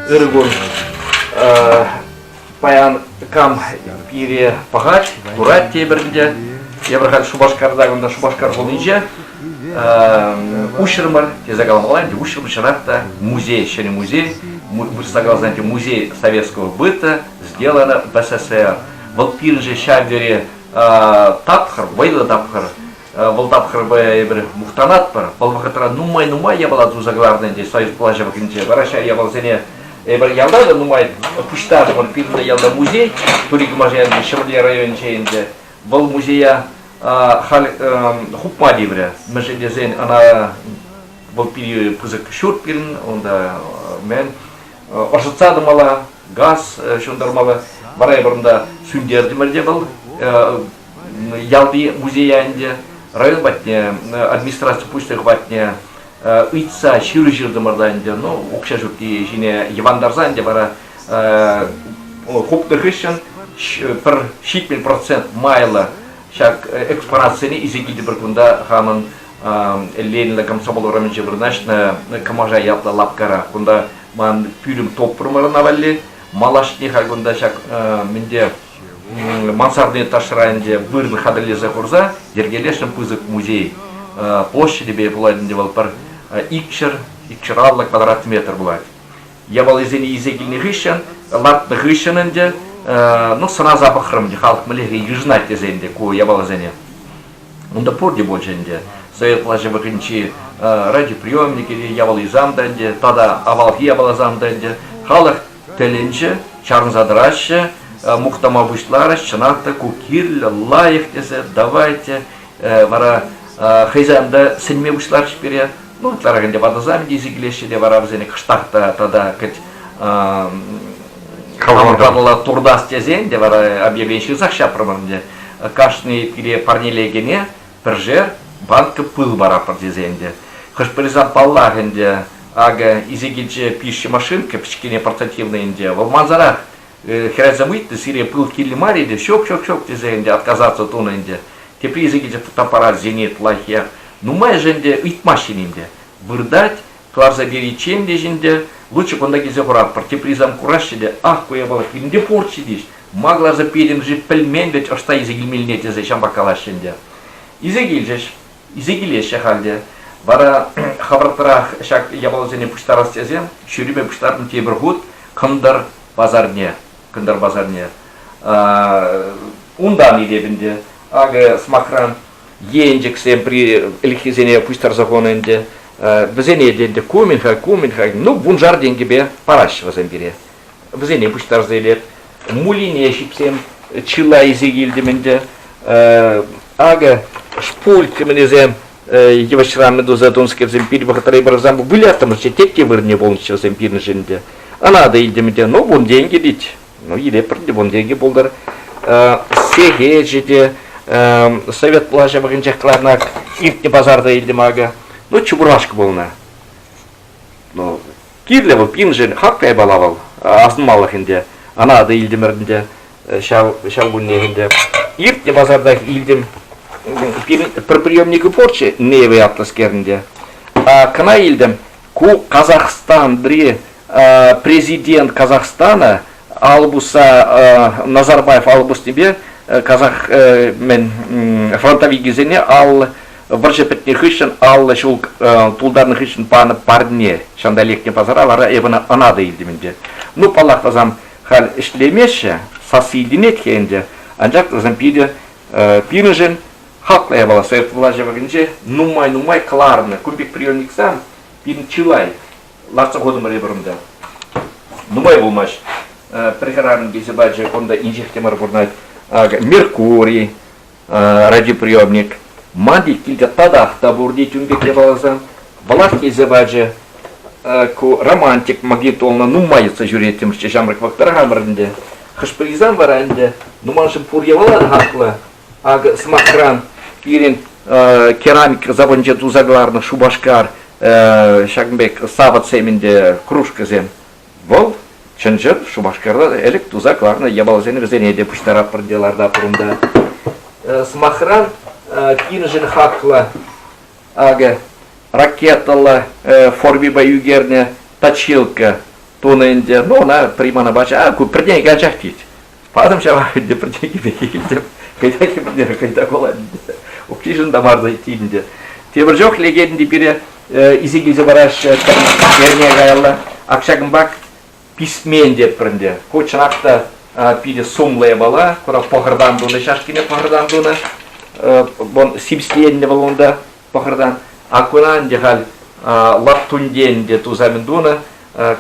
Ыргун паян кам пире пахать, курать тепӗрінде. Тепӗр хат Шупашкарта кунта Шупашкар хулинче. уҫрӑмӑр тесе калаҫалла ӗнтӗ уҫрӑмӑр чӑнах та музей ҫӗнӗ музей вырӑсла каласан ӗнтӗ музей советского быта сделано в СССР вӑл пирӗншӗн ҫав тери тапхӑр вӑйлӑ тапхӑр вӑл тапхӑрпа эпир мухтанатпӑр вӑл вӑхӑтра нумай нумай япала туса кӑларнӑ ӗнтӗ союз влаҫӗ вӑхӑтӗнче вара ҫав япаласене эпир ялта та нумай пуҫтартӑмӑр пирӗн ялта музей тури кӑмаша ҫӗмӗрле районӗнче ӗнтӗ Вӑл музея халь хупма тиврӗ. Мӗншӗн тесен ӑна вӑл питӗ пысӑк ҫурт пирӗн, унта мен ӑшӑтса тӑмалла, газ ҫунтармалла. Вара эпӗ унта сӳнтертӗмӗр те вӑл ялти музея ӗнтӗ. Район патне, администраци пуҫлӑх патне ыйтса ҫыру ҫыртӑмӑр та ӗнтӗ. Ну, укҫа ҫукки ҫине йӑвантарса ӗнтӗ вара хупнӑ хыҫҫӑн пӗр ҫитмӗл процент майлӑ ҫак экспонатсене исекитӗпӗр кунта хамӑн Ленина комсомол урамӗнче вырнаҫнӑ Кӑмаша ятлӑ лапкара кунта ман пӳлӗм топпромӑрна валли малашне халь кунта ҫак мӗнте мансарни ташра ӗнтӗ вырӑн хатӗрлесе хурса йӗркелесшӗн пысӑк музей площадӗпе пулать ӗнтӗ вӑл пӗр икҫӗр икҫӗр аллӑ квадрат метр пулать Яваллисене илсе килнӗ хыҫҫӑн, лартнӑ хыҫҫӑн ӗнтӗ, ну, сӑнаса пӑхрӑм ӗнтӗ, халӑх мӗнле йышӑнать тесе ӗнтӗ ку яваллисене. Унта пурте пулчӗ ӗнтӗ. Совет влаҫӗ вӑхӑтӗнчи радиоприемник или яваллисам та ӗнтӗ, тата авалхи яваллисам та ӗнтӗ, халӑх тӗлӗнче чарӑнса тӑраҫҫӗ, мухтама пуҫларӗҫ. Чӑнах та, ку кирлӗ, лайӑх тесе, давайте вара хӑйсем те сӗнме пуҫларӗҫ пире. Ну, ытларах ӗнтӗ ватӑсем тесе килеҫҫӗ те вара вӗсене кӑштах та тата кӗт каланӑла туртас тесен те вара объявление ҫырсах ҫапрӑмӑр ӗнтӗ. Кашни пире парнелекене пӗршер банка пыл паратпӑр тесен те. Хӑш-пӗрисем паллах ӗнтӗ, акӑ, исе килчӗ пишҫӗ машинка, пӗчкене портативнӑй ӗнтӗ, вӑл мансарах хӗрачам ыйтнӑ, сире пыл кирлӗ мар-и те, ҫук, ҫук, ҫук тесе ӗнтӗ отказаться тунӑ ӗнтӗ. Тепри ise килчӗ фотоаппаратсене плохие. Нумайӑшӗ ӗнтӗ ыйтмаҫҫӗ ӗнтӗ. Выртать, кӑларса периччен те ӗнтӗ, лучше кунта килсе хуратпӑр, тепри сам кураҫҫӗ те, ах, ку япала мӗнле пурччӗ тӗҫ, ма кӑларса петӗм-ши, пӗлмен вӗт, ӑҫта илсе килмелле тесе ҫамрӑк калаҫҫӗ ӗнтӗ. Илсе килчӗҫ, илсе килеҫҫӗ халь те. Вара хӑвӑртрах ҫак япаласене пуҫтарас тесе, ҫӳрипе пуҫтартӑм тепӗр хут, кӑнтӑр пасарне, кӑнтӑр пасарне. Унтан илеп ӗнтӗ. Акӑ, сӑмахран, енчӗксем ӗлӗкхисене пуҫтарса хунӑ ӗнтӗ. Вӗсене те ӗнтӗ кумин-ха, кумин-ха, ну, вуншар тенкӗпе параҫҫӗ вӗсем пире. Вӗсене пуҫтарса илеп. Мулине ҫипсем чылай илсе килтӗм ӗнтӗ. Акӑ, шпульт кӗменесем йывӑҫран туса тунскерсем пир вӑхӑтра пырсан выляртӑмӑрччӗ тек те вырӑнне пулнӑччӗ вӗсем пирӗншӗн те ана та илтӗм те ну вун тенкӗ тет ну илеппӗр те вун тенкӗ пултӑр сехечӗ те совет влаҫӗ вӑхӑнчех кӑларнак иртнӗ пасарта илтӗм акӑ ну чебурашка пулнӑ ну Кирлӗ вӑл, пиншӗн хак каймалла вӑл, асӑнмаллах ӗнтӗ. Ана та илтӗмӗр ӗнтӗ ҫав ҫав куннех ӗнтӗ. Иртнӗ пасартах илтӗм. Пирӗн пӗр приемникӗ пурччӗ, Неевый атлӑскер ӗнтӗ. Кӑна илтӗм, ку Казахстанри президент Казахстана Албуса Назарбаев албуснипе казах мӗн фронтовикӗсене ал Вӑрҫӑ пӗтнӗ хыҫҫӑн аллӑ ҫул тултарнӑ хыҫҫӑн панӑ парне ҫанта лекнӗ пасара вара эпӗ ӑна ӑна та илтӗм ӗнтӗ. Ну, паллах, вӗсем халь ӗҫлемеҫҫӗ, сасси илтӗнет-ха ӗнтӗ, анчах вӗсем питӗ пирӗншӗн хаклӑ япала совет влаҫӗ вӑхӑтӗнче нумай-нумай кӑларнӑ кун пек приемниксем пирӗн чылай лартса хутӑмӑр эпир унта. Нумай пулмасть пӗр хӗрарӑм килсе пачӗ, унта инҫех те мар пурӑнать. Меркурий, радиоприемник, ман пек килте татах та пурте тем пек япаласем, власть илсе пачӗ. Ку романтик, магнитолна нумайӑтса ҫӳреттӗмччӗ ҫамрӑк вӑхӑтра хамӑр ӗнтӗ. Хӑш-пӗрисем вара ӗнтӗ, ну маншӑн пур япала та хаклӑ. Акӑ, сӑмахран, пирӗн керамика сапӑнче туса кӑларнӑ Шупашкар ҫакӑн пек савӑтсем ӗнтӗ, кружкӑсем. Вӑл чӑн-чӑн Шупашкарта ӗлӗк туса кӑларнӑ япаласене вӗсене те пуҫтаратпӑр те ларта пурӑнта. Сӑмахран, кинӗшӗн хаклӑ акӑ ракетӑллӑ формипа ӳкернӗ точилка тунӑ ӗнтӗ. Ну, ӑна приманӑпа ку пӗртен ачах тет. Патӑм ҫавах ӗнтӗ пӗрчеки пекки килтӗм. Кайта хӗпӗнер, кайта кулать. Укҫишӗн та мар иккен ӗнтӗ. Тепӗр чух лекенти пире исе килсе параҫҫӗ, пӗр эрне каялла. Акҫакӑмпак писмен тетпӗр ӗнтӗ. Ку чӑнах та питӗ сумлӑ япала. Курав пӑхӑртан тунӑ, ҫашкине пӑхӑртан тунӑ. Вон сипсленнӗ вӑл унта пӑхӑртан. А куна ӗнтӗ халь лаптунтен те туса мӗн тунӑ.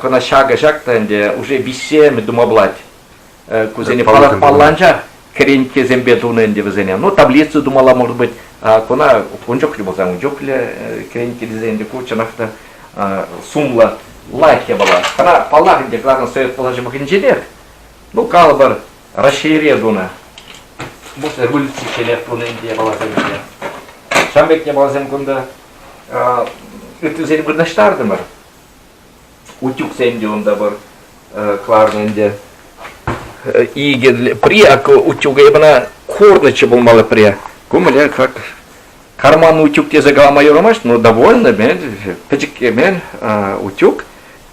Куна ҫакӑ ҫак та ӗнтӗ уже виҫсемӗ тума пулать. кусене палланча кӗренккесемпе тунӑ ӗнтӗ вӗсене. Ну, таблицу тумалла, может быть, куна ун чухлӗ пулсан, ун чухлӗ кӗренкке тесен ӗнтӗ ку чӑнах та сумлӑ лайк япала. Кӑна, паллах, ӗнтӗ, кӑларнӑ Совет пулашӑвӑхӗнченех, ну, калӑпӑр, Раҫҫейре тунӑ, может, революцичченех тунӑ ӗнтӗ япаласем ӗнтӗ. Ҫавӑн пек япаласем кунта ыттисем вырнаҫтартӑмӑр. утюгсем те унта пыр кӑларнӑ ӗнтӗ. Икӗ при утюг эпӗна курнӑччӗ пулмалла при. Кумле как карман утюг тесе калама юрамасть, но довольно мен пӗчӗк мен утюг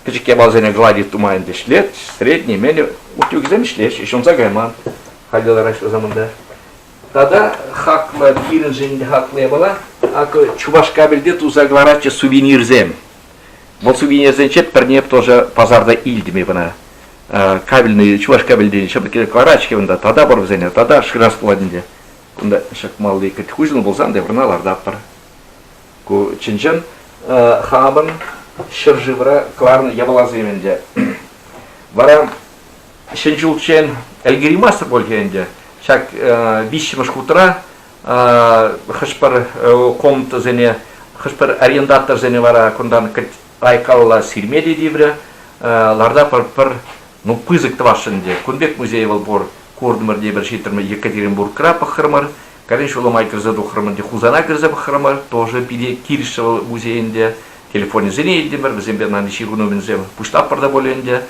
пӗчӗк япаласене гладить тума ӗнтӗ ӗҫлет, средний мен утюгсем ӗҫлеҫ, ҫунса кайман халӗ лараҫҫӗ заманта. Тата хаклӑ пирӗншӗн хаклӑ япала, акӑ Чувашкабельте туса кӑларатчӗ сувенирсем. Вот сувенирсенче пӗрне тоже пасарта илтӗм кӑна. Кабельный, чуваш кабельдейӗн ҫӑпӑкки карачки унта, тата пар вӗсене, тата шырас пулать ӗнтӗ. Кунта шӑкмалли кӗт хуҫӑн пулсан, теприна лартатпӑр. Ку чӑн-чӑн хамӑн ҫӗршывра кларнӑ япаласем ӗнтӗ. Вара ҫӗн ҫулччен ӗлкӗреймастӑп пуль ӗнтӗ. Ҫак виҫҫӗмӗш хутра хӑш-пӗр комнатӑсене, хӑш-пӗр арендаторсене вара кунтан айккалла сирме те тиврӗ. Ларта пӗр ну пысӑк тӑвасшӑн ӗнтӗ. Кун пек музей вӑл пур. Куртӑмӑр те пӗр ҫитрӗмӗр, Екатеринбургра пӑхрӑмӑр, Калин ҫулӑма кӗрсе тухрӑмӑр те Хусана кӗрсе пӑхрӑмӑр. Тоже питӗ килӗшрӗ вӑл музей ӗнтӗ. Телефонӗсене илтӗмӗр, вӗсемпе ман ҫырӑну мӗнсем пуҫлатпӑр та пулӗ ӗнтӗ.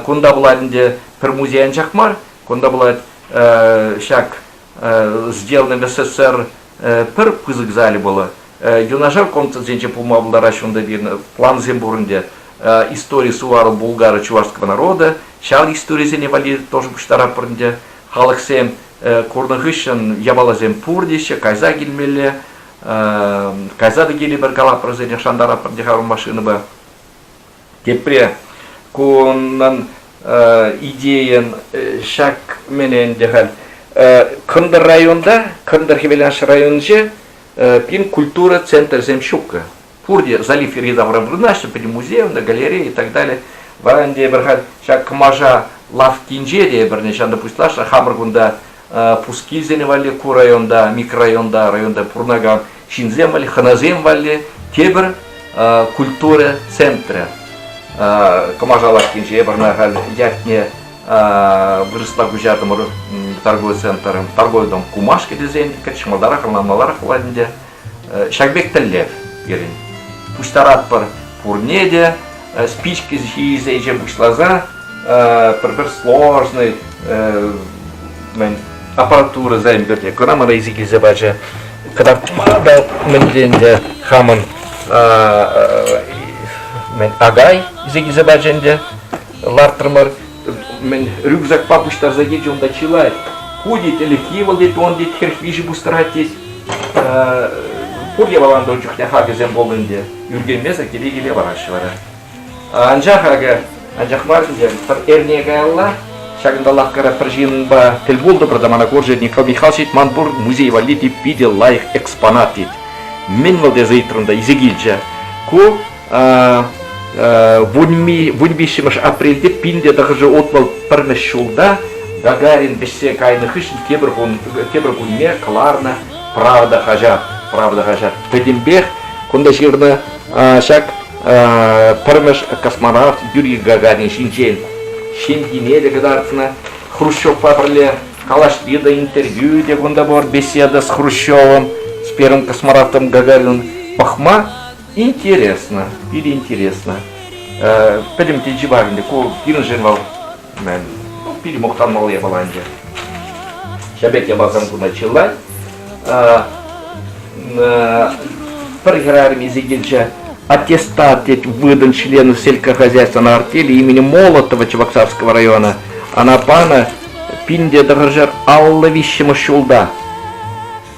Кунта пулать ӗнтӗ пӗр музей анчах мар, кунта пулать ҫак сделаны в СССР пӗр пысӑк зале было. Юнашар комнатасенче пулма пултараҫҫӗ унта пирӗн плансем пур ӗнтӗ. Истории сувару булгары чувашского народа. Ҫав историсене валли тоже пуҫтаратпӑр ӗнтӗ. Халӑхсем курнӑ хыҫҫӑн япаласем пур теҫҫӗ, кайса килмелле. Кайса та килӗпӗр калапӑрсене шантаратпӑр те хамӑр машинӑпа. Тепре кунӑн идейин ҫак мӗн ӗнтӗ халь кӑнтӑр районта, кӑнтӑр Хӗвеланш районӗнче пин культура центрсем ҫук. Пурте залив йӗри-тавра вырнаҫнӑ, пӗтӗм музеевна, галерея и так далее. Вара ӗнтӗ эпир халь ҫак кӑмаша лавккинче те эпир ҫанта пуҫлашнӑ хамӑр кунта Пускилсене валли ку районта, микрорайонта, районта пурӑнакан ҫынсем валли, хӑнасем валли тепӗр культура центрӗ. Кӑмашалаккинче варна халь ятне вырӑсла куҫартӑмӑр торговый центром, торговый дом Кумашки тесен кӗтӗҫ маларах, маларах владнде Ҫак пек тӗллев пирӗн. Пуҫтаратпӑр пурне те спички ҫисе ӗҫе пуҫласа пӗр-пӗр сложный аппаратурӑса ӗмпӗрте кӑна рейси килсе пачӗ. Кӑтартмада мӗнле ӗнтӗ хамӑн мӗн агай килсе пачӗ ӗнтӗ лартрӑмӑр. мӗн рюкзакпа пуҫтарса тет унта чылай. Ку тет, ӗлӗкхи вӑл тет, он тет, хӗрх виҫӗ пустырать тет. Пур явалан дон чухне хакӗсем пулнӑ ӗнтӗ. Ӳркенмесӗр киле-киле вараҫҫӗ вара. Анчах акӑ, анчах мар ӗнтӗ, пӗр эрне каялла Ҫакӑнта лавккара пӗр ҫынпа тӗл пултӑмӑр та мана курчӗ Николай Михайлович ман пур музей валли те питӗ лайӑх экспонат тет. Мӗн вӑл тесе ыйтрӑм та илсе килчӗ. Ку вун виҫҫӗмӗш апрельте пинте тӑхӑршӗ отвал пӗрмӗш ҫулта Гагарин вӗҫсе кайнӑ хыҫҫӑн тепӗр, кун, тепӗр кунне кӑларнӑ Правда хаҫат. Правда хаҫат. Пӗтӗмпех кунта ҫырнӑ ҫак пӗрмӗш космонавт Юрий Гагарин ҫинчен ҫемйине те кӑтартнӑ Хрущевпа пӗрле. Калаҫни те, интервью те кунта пур, беседа с Хрущевым, с первым космонавтом Гагарином. Пӑхма Интересно, питӗ интересно. Пӗтӗм те чипа ӗнтӗ ку пирӗншӗн вӑл ну, питӗ мухтанмалла япала ӗнтӗ. Ҫак пек япалсем куна чылай. Пӗр хӗрарӑмӗ килчӗ аттестат тет выдан члену сельскохозяйственного артели имени Молотова Чебоксарского района. Она пана пинде тӑрӑшар алла виҫҫӗмӗш ҫулта.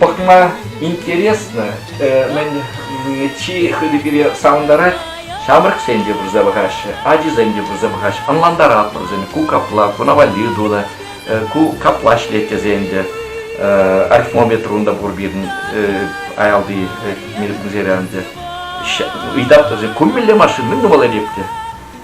пӑхма интересно, чи хытӑ пире савӑнтарать, ҫамрӑксен те пырса пӑхаҫҫӗ, ачисем те пырса пӑхаҫҫӗ, ӑнлантаратпӑр вӗсене, ку капла, ку навалли тунӑ, ку капла ӗҫлет тесен те. Арифмометр унта пур пирӗн аялти музейре ӗнтӗ. Ыйтатпӑр, курмелле машин, мӗн тумалла эп те.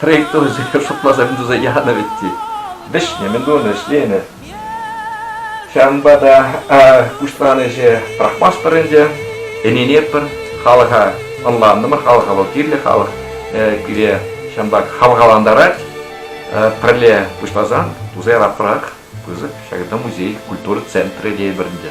Трейктор шутласа туса янӑ вӗт те. Вӗҫнӗ, мӗн тунӑ, вӗҫленӗ. Ҫавӑнпа та пуҫланӑҫӗ пӑрахмастпӑр ӗнтӗ. Ӗненетпӗр, халӑха ӑнлантӑмӑр, халӑха вӑл кирлӗ, халӑх пире ҫавӑнпах хавхалантарать. Пӗрле пуҫласан туса яраппӑрах пысӑк ҫакӑнта музей культура центрӗ тейӗпӗр ӗнтӗ.